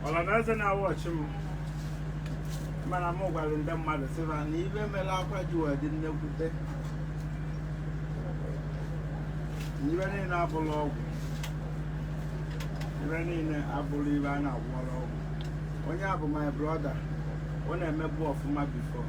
ọra na eze na-awatch m mana m gwara ndị mmadụ sị fa na ife mere akwa ji wee dị nnekwute ife niile abụrọ ọgwụ ife niile abụrọ ife a na-agwọrọ ọgwụ onye a bụ my brother ọ na-emebu ọfụma before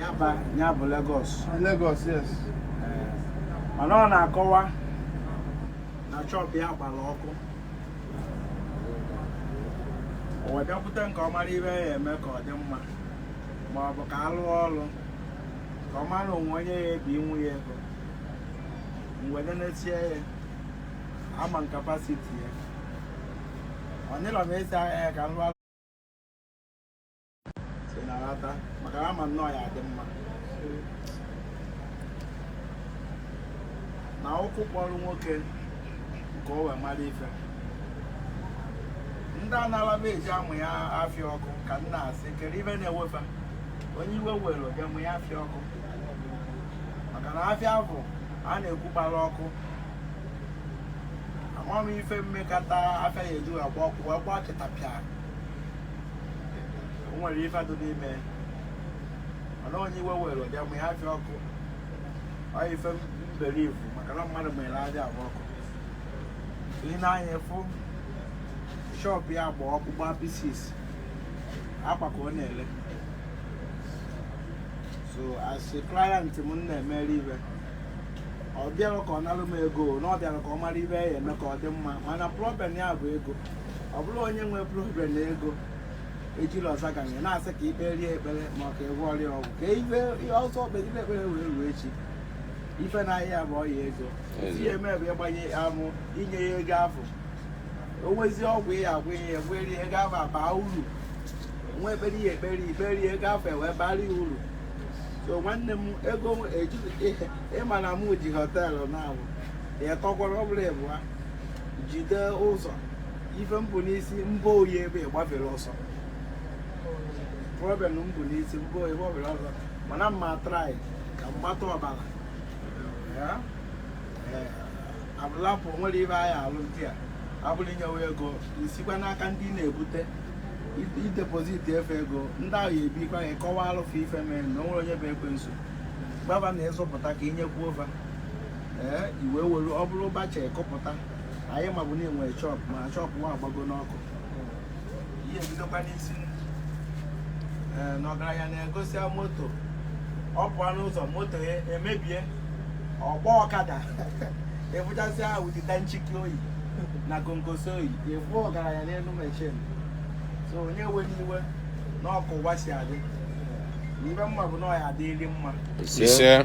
Yaba, ya bụ Lagos, yes. Mana ọ na-akọwa na shop ya gbara ọkụ. O wee bịakwute m ka ọ mara ife ọ ya-eme ka ọ dị mma ma ọ bụ ka a lụọ ọrụ ka ọ mara o nwee onye ya-ebinye ya ego. M wee nenesie ya, ama m capacity ya. Ọ nịrọ m esi ahịa ya ka m lụọ na ụkwụ kpọrọ nwoke nke o wee mara ife ndị anara m eji amụ ya afịa ọkụ ka m na-asị kere ife na-ewe fa onye iwe were bịa mụ ya afịa ọkụ maka na afịa bụ a na-ekwu gbara ọkụ ama m ife mekata afịa ya eji agba ọkụ wee gbaa chịtapịa o nwere ife dị n'ime mana onye iwe were bịa mụ ya afịa ọkụ ọ ife mbere ifu maka na mmadụ mere aja agba ọkụ i nee anya fụ shop ya gba ọkụ gbaa pieces akwa ka ọ na-ele so as a client m m na-emere ife ọ bịara ka ọ nalụ m ego na ọ bịara ka ọ mara ife ọ ya-eme ka ọ dị mma mana problem ya bụ ego ọ bụrụ onye nwere problem na ego ejiri ọza ganye na-asị ka i kpeere ya ekpere ma ọ ka ị gwọọrọ ya ọgwụ ka ife ọzọ kpegide ekpere wee ruo echi ife na-arịa ya bụ ọya ego Ezi. ihe eme bụ ịgbanye amụ inye ya ego afụ o nwezie ọgwụ ị ya-agwọ ihe ya wee rie ego afụ abaa uru nwee ekpere ya ekpere i kperie ego afụ ewee bara ya uru so nwanne m ego ejighị ị ma na mụ ji hotel na-abụ ya tọkwara ọ bụrụ ịbụa jide ụzọ ife m bu n'isi mbụ oyi ebe gbafere ọsọ problem mbụ n'isi mbụ oyi gbafere ọsọ mana m ma try ka m mata ọbara abụlapụ nwere ife anyị alụ ndị a abụrụ inyewe ego isikwa n'aka ndị na-ebute i deposit efe ego ndị ahụ ya ebikwa gị kọwaa alụfụ ife mee na onwere onye bụ ekwensu gbaba na ịzụpụta ka inyekwu ofe ee iwe were ọ bụrụ bacha ekọpụta anyị mabụ na-enwe shọp ma shọp nwa agbago n'ọkụ ihe ebidokwa n'isi ee na ọgaranya na-egosia moto ọ pụọ n'ụzọ moto ya emebie ọ gbaa ọkada ebụchasị ahụ dịta nchiki oyi na gongosi oyi efu ọgaranya n'elu mechin so onye ewena iwe na ọkụ ụwa si adị ibe mma bụ na ọ ya adịrị mma ise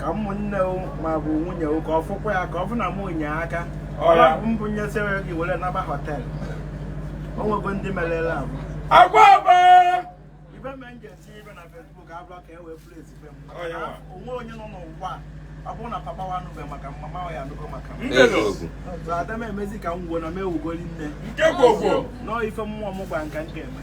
ka ụmụnne ma bụ nwunye ka ọ fụkwa ya ka ọ bụ na m onye aka mbụ nyesịrị gị were naba họtel o nwego ndị merela abụ agwa agba ibe me nje si ibe na Facebook abụọ ka e wee fụrụ ezigbo m onwe onye nọ n'ụwa ọ bụrụ na papa ya anụbe maka m mama ya anụgo maka m ada m emezi ka m wuo na m ewugoli nne nọ ife mmụọ m gwa m ka m ga-eme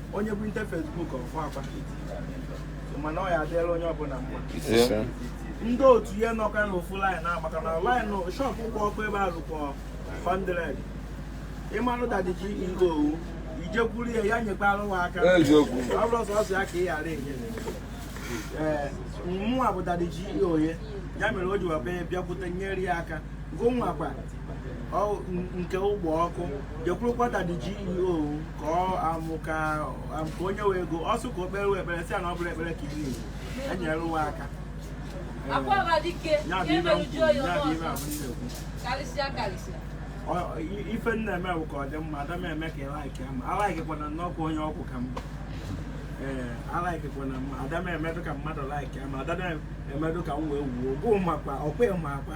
onye bụ nte Facebook ọfụ akwa mana ọ ya adịla onye ọbụla mma ndị otu ihe nọka na ofu laịn maka na laịn shọpụ gba ọkụ ebe ahụ kwa 100 ịmanụ Daddy GO gụ i jekwuru ya ya nyekwara ụwa aka ọ bụrụ sọsọ ya ka ị ghara enye ee mụnwa bụ Daddy GO ya mere o ji webe bịakwute nyere ya aka gụnwakwa nke gụ gba ọkụ jekwurukwa Daddy GO gụ ka ọ amụ ka am- ka onye wee ego ọ sị ka o kpere wee ekpere si ya na ọ bụrụ ekpere ka iri igbo enyere ụwa aka akwa ọba dike ya ya bụ ibe emerụ jụọ ya ya bụ onye ibe ọzọ abụ ndị ekwu karịsịa karịsịa Ọ- i- ife m na-eme bụ ka ọ dị mma ada m eme ka ị laikia m alaikekwana n'ọkwa onye ọkwụ ka mba ee alaikekwana m ada m emedo ka mmadụ laikia m ada m emedo ka m wee wuo gụ makwa ọkwa ị makwa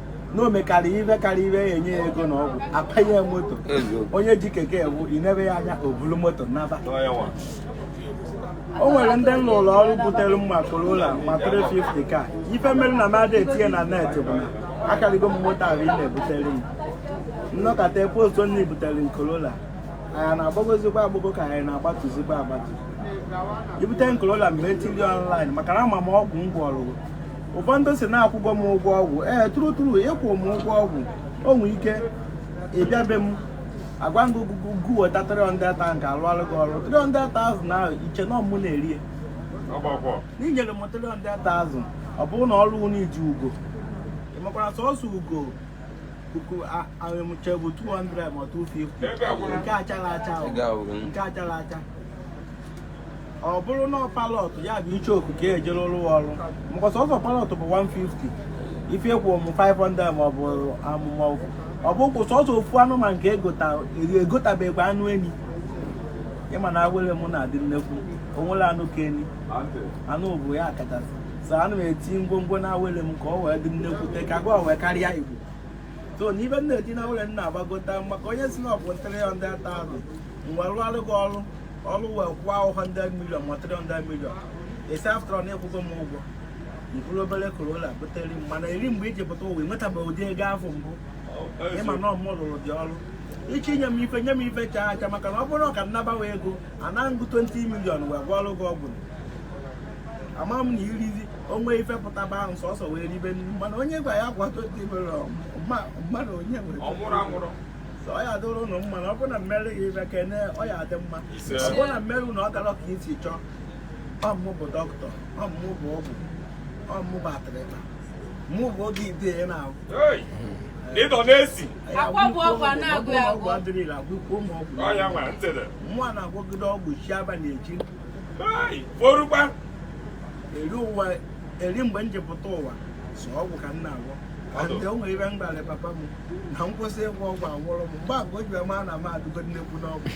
na o mekara ibe karịa ibe ya enye ya ego na ọgwụ apanye ya moto onye ji keke ewu i nebe ya anya o bulu moto naba o nwere ndị m lụụlụ ọrụ butere m ma Corolla ma 350 ka ife mere na m ada etinye na net bụ na akarịgo m moto ahụ ị na-ebutere m m nọkata postu onye butere m Corolla anyị na-agbagozikwa agbago ka anyị na-agbatuzikwa agbatu i bute m Corolla mgbe etiri online maka na ama m ọgwụ m gwọrọ ụfọdụ sị na akwụgo m ụgwọ ọgwụ ee true true ị kwụ m ụgwọ ọgwụ o nwee ike ị bịa be m agwa gị ogugo gu weta 300 ta nke a lụalụ gị ọrụ 300,000 ahụ i che na ọ mụ na-eri ya n'inyere m 300,000 ọ bụrụ na ọrụ unu iji ugo ị makwara sọsọ ugo puku ahụmche bụ 200 ma 250 nke achara acha nke achara acha ọ bụrụ na parrot ya bụ icheoku ka e jiri rụọ ọrụ maka sọsọ parrot bụ 150 ife kwụ m 500 ma ọ bụ amụma ọgwụ ọ bụ kwụ sọsọ ofu anụmanụ nke egotabekwa anụ enyi ị ma na awele m na-adị nnekwu o nwere anụ ka enyi anụ bụ ya kachasị so ana m eti ngwongwo na awele m ka ọ wee dị nnekwute ka gwa wee karịa igbo so n'ife m na-eti na awele m na-agbagota maka onye si na ọ bụ 300,000 mgbe rụọ gị ọrụ ọrụ wee kwụọ ahụ 100 million ma 300 million esi after na ị kwụgo m ụgwọ mkpụrụ obere corolla butere m mana eri mgbe i ji pụta ụwa i nwetabeghị ụdị ego afụ mbụ ị ma na ọ mụ rụrụ gị ọrụ iche inye m ife nye m ife chaa acha maka na ọ bụrụ ka m nabawa ego ana m gị 20 million wee gwọọrọ gị ọgwụ ama m na irizi onwe ife pụtaba ahụ sọsọ wee ribe nri mana onye gwa ya gwa 20 million mmadụ onye nwere ọ ya adịrị ụnụ mma na ọ bụrụ na mmeri gị ife kene ọ ya adị mma ọ bụrụ na mmeri na ọ gara ka i si chọọ ọ mụ bụ dọkịta ọ mụ bụ ọgwụ ọ mụ bụ atịrịta mụ bụ oge ide ya na-ahụ ndị na-asị ọgwụ adịrọ ire agwọkwuo m ọgwụ nwa na-agwọgide ọgwụ chi abalị echi forukwa eri ụwa eri mgbe m ji pụta ụwa so ọgwụ ka m na-agwọ ndị o nwere ife m gwara papa m na m kwụsị ịgwọ ọgwụ agwụrụ m mgbe agwa o ji ama na m adụgo nnekwu n'ọgwụ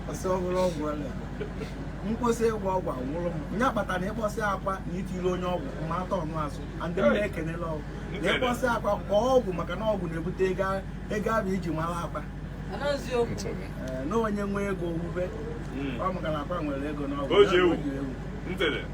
ọ sị ọhụrụ ọgwụ ọla m kwụsị ịgwọ ọgwụ agwụrụ m ọ ya kpatara na ị kpọsịa akwa na itiri onye ọgwụ ma atọ ọnụ azụ ndị m na-ekenela ọgwụ na ị kpọsịa akwa kpọọ ọgwụ maka na ọgwụ na-ebute ego ego abụ iji mara akwa na onye nwe ego owuwe ọ maka na akwa nwere ego n'ọgwụ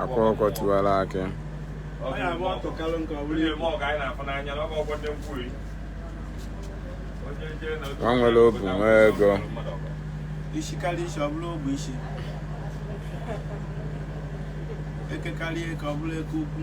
akwa ọkụkọ tiwara akị nwa nwere obu nwee ego isi karịa isi ọ bụrụ ogbe isi eke karịa eke ọ bụrụ eke ukwu